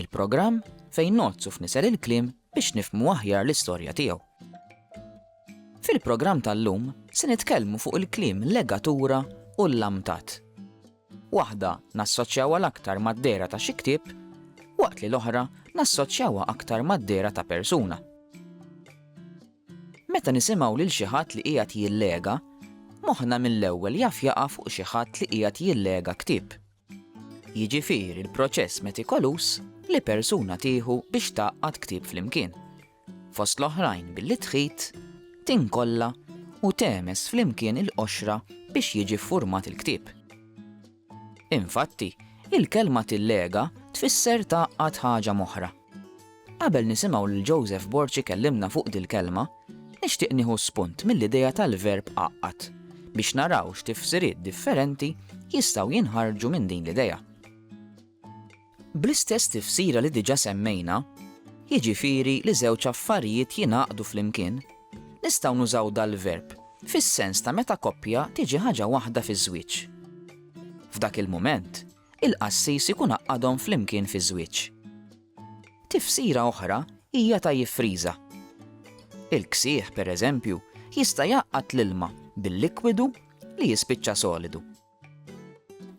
Il-programm fejn ngħoddsu f'nisel il-kliem biex nifhmu aħjar l-istorja tiegħu. Fil-programm tal-lum se nitkellmu fuq il-kliem legatura u l-lamtat. Waħda nassoċjawha l-aktar mad-dera ta' xi ktieb, waqt li l-oħra nassoċjawha aktar mad-dera ta' persuna. Meta nisimgħu lil xi ħadd li qiegħed jillega, moħħna mill-ewwel jaf jaqa' fuq xi ħadd li qiegħed jillega ktieb. jiġifieri l-proċess metikoluż li persuna tieħu biex tgħaqqad ktieb flimkien, fost l-oħrajn billi tħit, tinkolla u tegħmes flimkien il-qoxra biex jiġi ffurmat il-ktieb. Infatti, il-kelma tillega tfisser tgħaqqad ħaġa m'oħra. Qabel nisimgħu lil Joseph Borg ikellimna fuq dil-kelma, nixtieq nieħu spunt mill-idea tal-verb għaqqad biex naraw x'tifsiriet differenti jistgħu jinħarġu minn din l-idea. Bl-istess tifsira li diġà semmejna, jiġifieri li żewġ affarijiet jingħaqdu flimkien, nistgħu nużaw dal-verb fis-sens ta' meta koppja tiġi ħaġa waħda fiż-żwieġ. F'dak il-mument, il-qassis ikun għaqqadhom flimkien fiż-żwieġ. Tifsira oħra hija ta' jiffriża. Il-ksieħ, pereżempju, jista' jgħaqqad l-ilma bil-likwidu li jispiċċa solidu.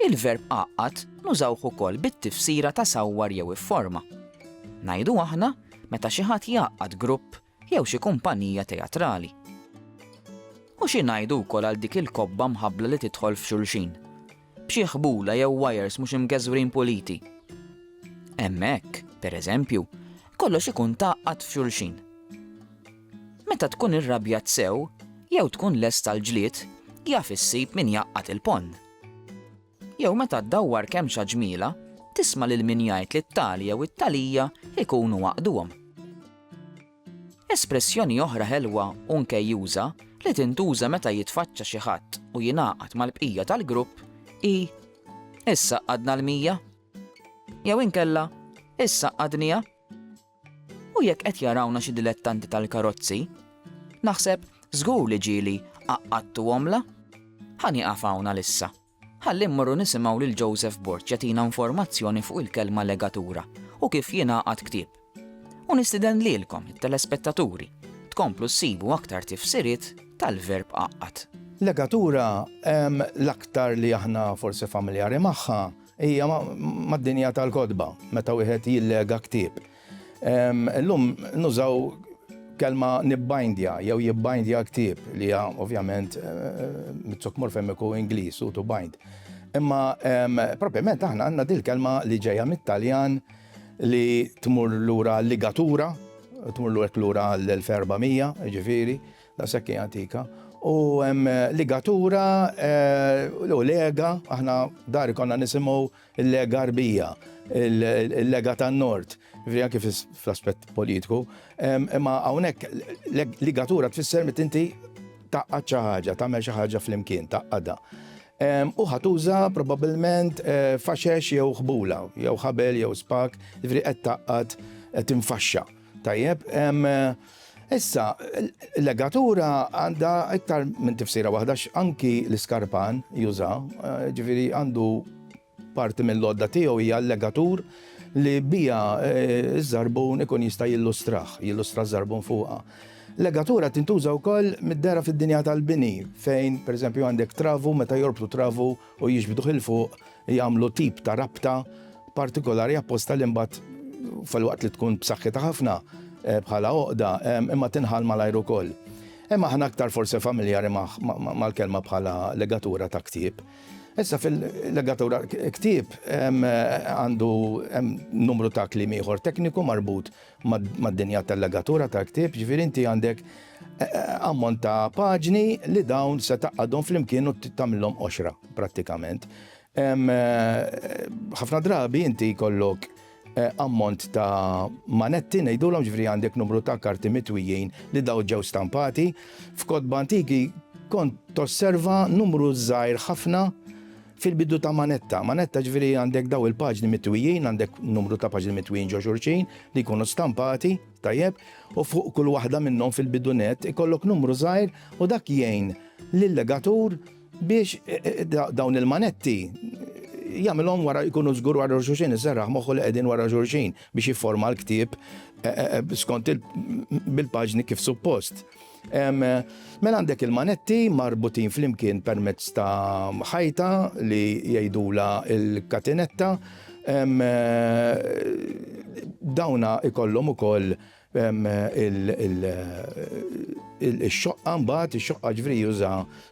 Il-verb għaqqad nużawh ukoll bit-tifsira ta' sawwar jew ifforma. Ngħidu aħna meta xi ħadd jgħaqqad grupp jew xi kumpanija teatrali. U xi ngħidu wkoll għal dik il-kobba mħabbla li tidħol f'xulxin, b'xi ħbula jew wajers mhux imgeżwrin puliti? Hemmhekk, per eżempju, kollox ikun tgħaqqad f'xulxin. Meta tkun irrabjat sew, jew tkun lest għall-ġlied, jaf issib min jgħaqqad il-ponn. Jew meta ddawwar kemm xa ġmiela, tisma' lil min jgħid li t-tali jew it-talija jkunu għaqduhom. Espressjoni oħra ħelwa u nkejjuża li tintuża meta jitfaċċa xi ħadd u jingħaqad mal-bqija tal-grupp hi Issaqadna l-mija? jew inkella Issaqadniha? U jekk qed jarawna xi dilettanti tal-karozzi, naħseb żgur li ġieli għaqqadtu għomla. Ħa nieqaf hawn għalissa. Ħalli mmorru nisimgħu lil Joseph Borg jagħtina informazzjoni fuq il-kelma legatura u kif jingħaqad ktieb. U nistiden lilkom, it-telespettaturi, tkomplu ssibu aktar tifsiriet tal-verb qaqqad. Legatura, l-aktar li aħna forsi familjari magħha, Hija mad-dinja tal-kotba meta wieħed jillega ktieb. Illum nużaw kelma nibbindja jew jibbindja ktieb li hija ovvjament mit-suk morfemiku Ingliż u to bind. Imma propjament aħna għandna dil-kelma li ġejja mit-Taljan li tmur lura ligatura, tmur lura l-1400, ġifieri, Daqshekk hi antika. U hemm ligatura u lega, aħna dar konna nisimgħu l-lega rbija, il-lega tan-nord, ġifieri anke fl-aspett politiku. Imma hawnhekk ligatura tfisser meta inti tgħaqqad xi ħaġa, tagħmel xi ħaġa flimkien, tgħaqqadha. U ħatuża probabbilment faxex jew ħbula, jew ħabel jew spak, ġifieri qed tgħaqqad, qed tinfaxxa. Tajjeb, issa, legatura għandha iktar minn tifsira waħda anki l-iskarpan juża, eh, ġifieri għandu parti mill-lodda tiegħu hija l-legatur li bija eh, ż-żarbun ikun jista' jillustraħ, jillustra ż-żarbun fuqha. Legatura tintuża wkoll mid-dera fid-dinja tal-bini, fejn pereżempju għandek travu meta jorbtu travu u jiġbduh 'il fuq jagħmlu tip ta' rabta partikolari apposta li mbagħad filwaqt li tkun b'saħħitha ħafna bħala għoqda imma tinħall malajr ukoll. Imma aħna aktar forsi familjari mal-kelma bħala legatura ta' ktieb. Issa fil-legatura ktieb għandu numru ta' kliem ieħor tekniku marbut mad-dinja tal-legatura tal-ktieb, ġifieri inti għandek eh, eh, ammont ta' paġni li dawn se taqadhom flimkien u tagħmilhom qoxra prattikament. Eh, ħafna drabi inti jkollok ammont ta' manetti ngħidulhom ġifri għandek numru ta' karti mitwijin li daw ġew stampati. F'kodba antiki kont tosserva numru żgħir ħafna Fil-bidu ta' manetta, manetta ġifieri għandek daw il-paġni mitwijin, għandek numru ta' paġni mitwijin ġo xurxin li jkunu stampati, tajjeb, u fuq kull waħda minnhom fil-bidu net ikollok numru żgħir u dak jgħin lil-legatur biex e, e, dawn il-manetti jagħmilhom wara jkunu żgur wara xulxin iżerraħ moħħu li qegħdin wara xulxin biex jifforma l-ktieb eh, eh, eh, skont bil-paġni kif suppost. Mela għandek il-manetti marbutin flimkien permezz ta' ħajta li jgħidula il-katinetta. Dawna ikollhom ukoll il-xoqqa mbagħad, ix-xoqqa ġvri juża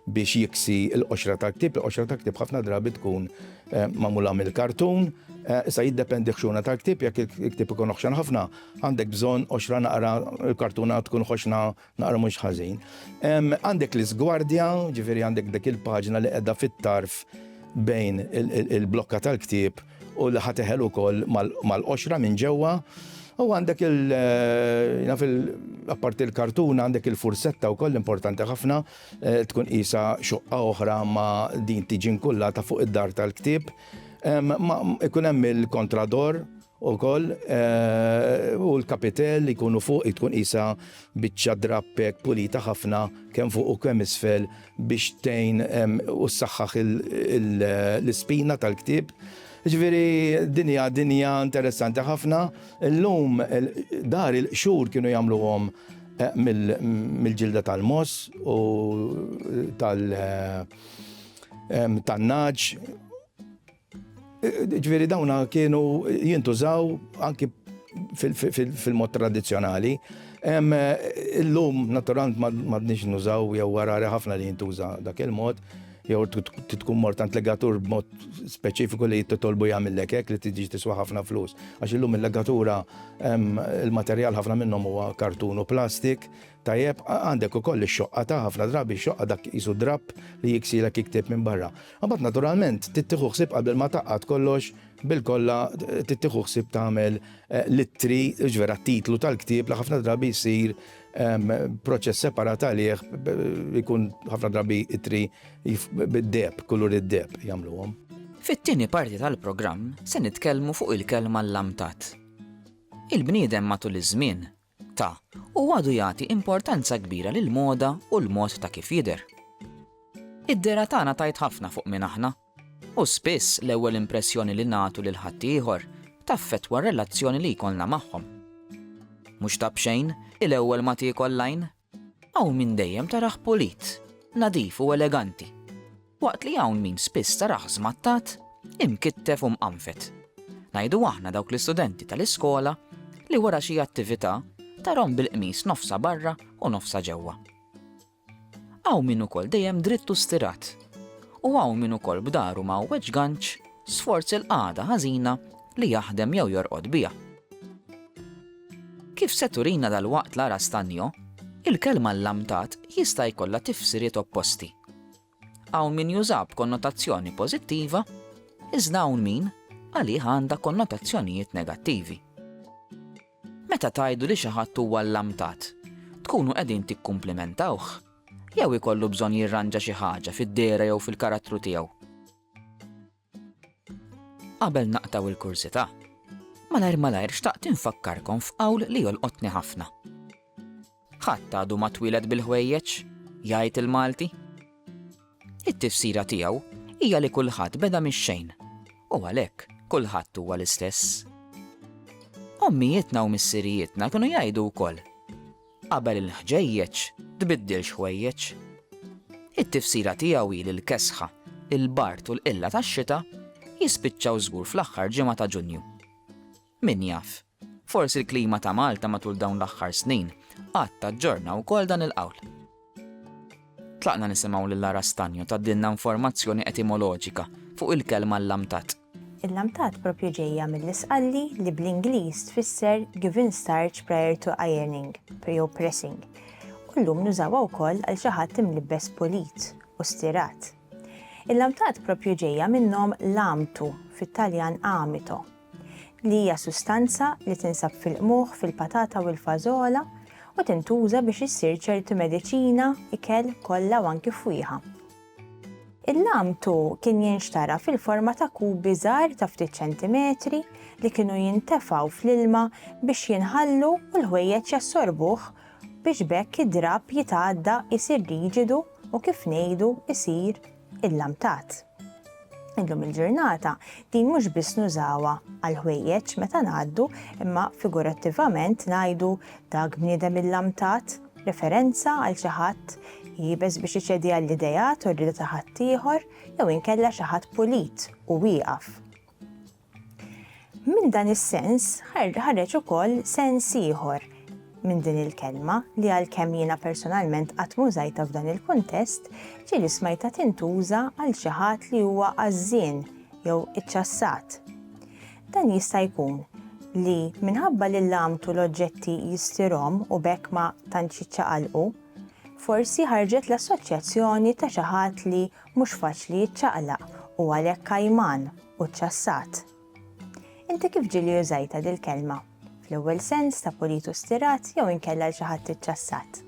biex jiksi l-qoxra tal-ktib, il-qoxra tal-ktib ħafna drabi tkun magħmula mill-kartun, sa jiddependi ħxuna tal-ktib, jekk il-ktib ikun oħxan ħafna, Għandek bżonn qoxra naqra l-kartuna tkun ħoxna naqra mhux ħażin. Għandek l-iżgwardja, ġifieri għandek dik il-paġna li qiegħda fit-tarf bejn il-blokka tal-ktieb u li ħateħel ukoll mal-qoxra minn ġewwa. U għandek il naf il apparti l-kartuna għandek il-fursetta wkoll importanti ħafna eh, tkun qisha xoqqa oħra ma din tiġi nkullata fuq id-dar tal-ktieb. Ikun hemm il-kontrador Ukoll, u l-kapitell li jkunu fuq hi tkun qisha biċċa drapp hekk pulita ħafna kemm fuq u kemm isfel biex tgħin u ssaħħaħ l-ispina tal-ktieb. Jiġifieri din hija dinja interessanti ħafna. Illum dar il-qxur kienu jagħmluhom mill-ġilda tal-mogħoż u tal-nagħaġ. Ġviri dawna kienu jintużaw anki fil-mod tradizjonali. Illum, naturalment, madnix nużaw jew warari ħafna li jintuża dak il-mod, jew tkun mort għand legatur b'mod speċifiku li titolbu jagħmillek hekk li tiġi tiswa ħafna flus. Għax illum il-legatura, il-materjal ħafna minnhom huwa kartun u plastik, Tajjeb, għandek ukoll ix-xoqqa ta' ħafna drabi x-xoqqa dak qisu drapp li jiksilek il-ktieb minn barra. Imbagħad naturalment trid tieħu ħsieb qabel ma tgħaqqad kollox bilkollha trid tieħu ħsieb tagħmel l-ittri, ġvera t-titlu tal-ktieb li ħafna drabi jsir proċess separat għalih jkun ħafna drabi ittri bid-deheb, kulur id-deheb jagħmluhom. Fit-tieni parti tal-programm se nitkellmu fuq il-kelma llamtat. Il-bniedem matul iż-żmien ta', u għadu jagħti importanza kbira lill-moda u l-mod ta' kif jidher. Id-dehra tagħna tgħid ħafna fuq min aħna, u spiss l-ewwel impressjoni li nagħtu lil ħaddieħor taffettwa r-relazzjoni li jkollna magħhom. Mhux ta' b'xejn, il-ewwel ma tiekol l-għajn Hawn min dejjem tarah pulit, nadif u eleganti, waqt li hawn min spiss tarah żmattat, imkittef u mqanfet. Ngħidu aħna dawk l-istudenti tal-iskola li wara xi attività tarahom bil-qmis nofsha barra u nofsha ġewwa. Hawn min ukoll dejjem dritt u stirat, u hawn min ukoll b'dahru mgħawweġ ganċ sforz il-qagħda ħażina li jaħdem jew jorqod biha. Kif se turina dalwaqt Lara Stagno, il-kelma llamtat jista' jkollha tifsiriet opposti. Hawn min jużha b'konnotazzjoni pożittiva, iżda hawn min għalih għandha konnotazzjonijiet negattivi. Meta tgħidu li xi ħadd huwa llamtat, tkunu qegħdin tikkumplimentawh jew ikollu bżonn jirranġa xi ħaġa fid-dehra jew fil-karattru tiegħu? Qabel naqtgħu l-kursità, malajr malajr xtaqt infakkarkom f'qawl li jolqotni ħafna. Ħadd għadu ma twieled bil-ħwejjeġ, jgħid il-Malti. It-tifsira tiegħu hija li kulħadd beda mix-xejn u għalhekk kulħadd huwa l-istess. Ommijietna u missirijietna kienu jgħidu wkoll Qabel il-ħġejjeġ tbiddilx ħwejjeġ. It-tifsira tiegħu hi li l-kesħa, il-bard u l-qilla tax-xita jispiċċaw żgur fl-aħħar ġimgħa ta' Ġunju. Min jaf, forsi l-klima ta' Malta matul dawn l-aħħar snin qatt taġġorna wkoll dan il-qawl. Tlaqna nisimgħu lil Lara Stagno tgħaddilna informazzjoni etimoloġika fuq il-kelma llamtat. Il-lamtat proprju ġejja mill-Isqalli li bl-Ingliż tfisser giving starch prior to ironing jew pressing u llum nużawha wkoll għal xi ħadd imlibbes pulit u stirat. Il-lamtat proprju ġejja minn nom lamtu fit-Taljan amito li hija sustanza li tinsab fil-qmuħ, fil-patata u l-fażola u tintuża biex issir ċerti mediċina, ikel, kolla u anki fwieħa. Il-lamtu kien jinxtara fil-forma ta' kubi żgħar ta' ftit ċentimetri li kienu jintefgħu fl-ilma biex jinħallu u l-ħwejjeġ jassorbuh biex b'hekk id-drapp jitgħadda jsir riġidu u kif ngħidu jsir Illamtat. Illum il-ġurnata din mhux biss nużawha għal ħwejjeġ meta ngħaddu imma figurattivament ngħidu dak bniedem illamtat, referenza għal xi ħadd jibes biex iċedi għall-ideat u r-rieda ta' ħaddieħor jew inkella xi ħadd pulit u wieqaf. Minn dan is-sens ħareġ ukoll sens ieħor minn din il-kelma li għalkemm jiena personalment qatt mużajta f'dan il-kuntest, ġieli smajta tintuża għal xi ħadd li huwa għażżien jew iċċassat. Dan jista' jkun li minħabba li l-lamtu l-oġġetti jistirhom u bekk ma tantx jiċċaqalqu, forsi ħarġet l-assoċjazzjoni ta' xi ħadd li Mhux faċli jiċċaqlaq u għalhekk għajman u ċċassat. Inti kif ġieli użajtha dil-kelma? Fl-ewwel sens ta' pulit u stirat jew inkella l xi ħadd iċċassat?